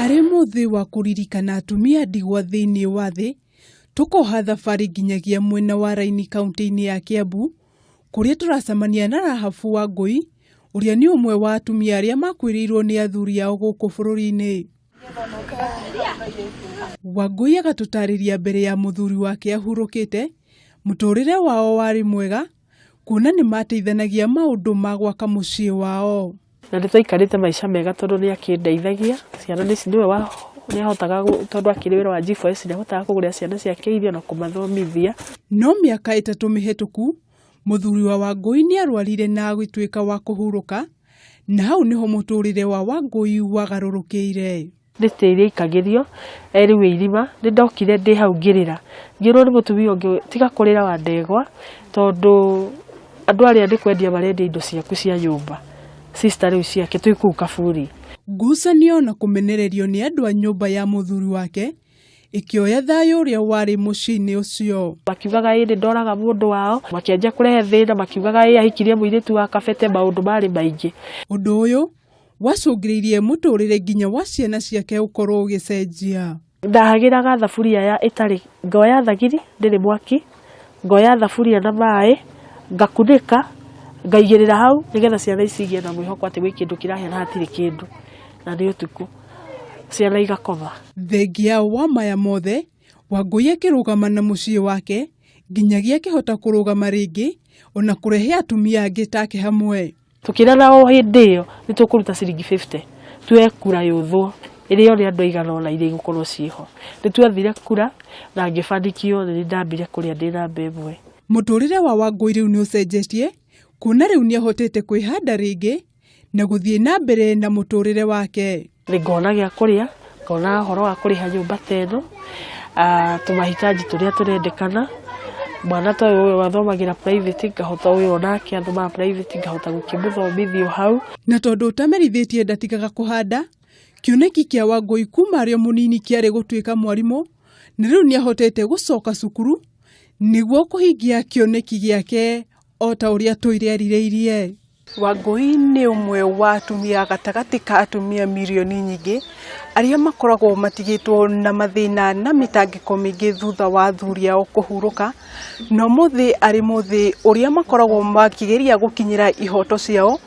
Arĩ mũthĩ wa kũririkana atumia ndigwa thĩinĩ wa thĩ, tũkoha thabarĩ nginyagia mwena wa Raini kaũntĩ-inĩ ya Kiambu, kũrĩa tũracemania na Rahabu Wangũi, ũrĩa nĩ ũmwe wa atumia arĩa makuĩrĩirwo nĩ athuri ao gũkũ bũrũri-inĩ. Wangũi agatũtarĩria mbere ya mũthuri wake ahurũkĩte, mũtũrĩre wao warĩ mwega, kuona nĩ maateithanagia maũndũ ma gwaka mũciĩ wao. Na nĩ twaikarĩte maica mega tondũ nĩ akĩndeithagia, ciana nĩ nĩwe wa nĩ ahotaga tondũ akĩrĩ wĩra wa G4S nĩ ahotaga kũgũrĩra ciana ciake irio na kũmathomithia. No mĩaka ĩtatũ mĩhĩtũku, mũthuri wa Wangũi nĩ arwarire na agĩtuĩka wa kũhurũka, na hau nĩho mũtũrĩre wa Wangũi wagarũrũkĩire. Ndĩcitĩ iria ikagĩrio, erĩu irima, nĩ ndokire ndĩ hau ngĩrĩra, ngĩrwo nĩ mũtumia ũngĩ tiga kũrĩra wa ndegwa, tondũ andũ arĩa nĩ kwendia marendia indo ciaku cia nyũmba, sister rĩu ciake twĩ kũu kaburi. Ngucanio na kũmenererio nĩ andũ a nyũmba ya mũthuri wake ĩkĩoya thayũ ũrĩa warĩ mũciĩ-inĩ ũcio. Makiugaga ĩĩ nĩ ndoraga mũndũ wao, makĩanjia kũrehe thĩna makiugaga ĩĩ ahikirie mũirĩtu wa kabete, maũndũ marĩ maingĩ. Ũndũ ũyũ Wacũngĩrĩirie mũtũrĩre nginya wa ciana ciake ũkorwo ũgĩcenjia. Ndahagĩraga thaburia ya ĩtarĩ, ngoya thagiri ndĩrĩ mwaki, ngoya thaburia na maĩ, ngakunĩka, ngaigĩrĩra hau nĩgetha ciana ici igĩe na mwĩhoko atĩ gwĩ kĩndũ kĩrahĩa na hatirĩ kĩndũ, na nĩ ũtukũ. Ciana igakoma. Thengia wa maya mothe, Wangũi akĩrũgama na mũciĩ wake nginyagia akĩhota kũrũgama rĩngĩ, ona kũrehe atumia angĩ take hamwe. Tũkĩrara o hĩndĩ ĩyo nĩ tũkũruta ciringi fifty tuoe kura yũthwo ĩrĩa ĩrĩ andũ aigana ũna iria igũkorwo ciĩ ho. Nĩ twathire kura na ngĩbandi kĩothe nĩ ndambire kũrĩa ndĩ namba ĩmwe. Mũtũrĩre wa Wangũi rĩu nĩ ũcenjetie kuona rĩu nĩ ahotete kwĩhanda rĩngĩ na gũthiĩ na mbere na mũtũrĩre wake. Nĩ ngona gĩa kũrĩa, ngona ũhoro wa kũrĩha nyũmba ta ĩno, tũmahitaji tũrĩa tũrendekana, mwana ta ũyũ ũyũ athomagĩra private ngahota ũyũ o nake athomaga private ngahota gũkĩmũthomithia o hau. Na tondũ ũtamerithĩtie ndatigaga kũhanda, kĩoneki kĩa Wangũi kuuma arĩ o mũnini kĩarĩ gũtuĩka mwarimũ, na rĩu nĩ ahotete gũcoka cukuru nĩguo kũhingia kĩoneki gĩake o ta ũrĩa tũirĩ erirĩirie. Wangũi nĩ ũmwe wa atumia gatagatĩ ka atumia mirioni nyingĩ arĩa makoragwo matigĩtwo na mathĩna na mĩtangĩko mĩingĩ thutha wa athuri ao kũhurũka, na ũmũthĩ arĩ mũthĩ ũrĩa makoragwo makĩgeria gũkinyĩra ihoto ciao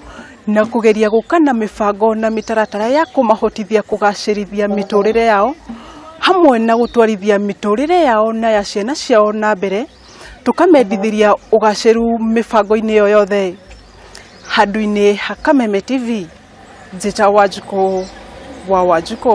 na kũgeria gũka na mĩbango na mĩtaratara ya kũmahotithia kũgacĩrithia mĩtũrĩre yao, hamwe na gũtwarithia mĩtũrĩre yao na ya ciana ciao na mbere. tũkamendithĩria ũgacĩru mĩbango-inĩ ĩyo yothe handũ-inĩ ha Kameme TV, njĩta Wanjikũ wa Wanjikũ.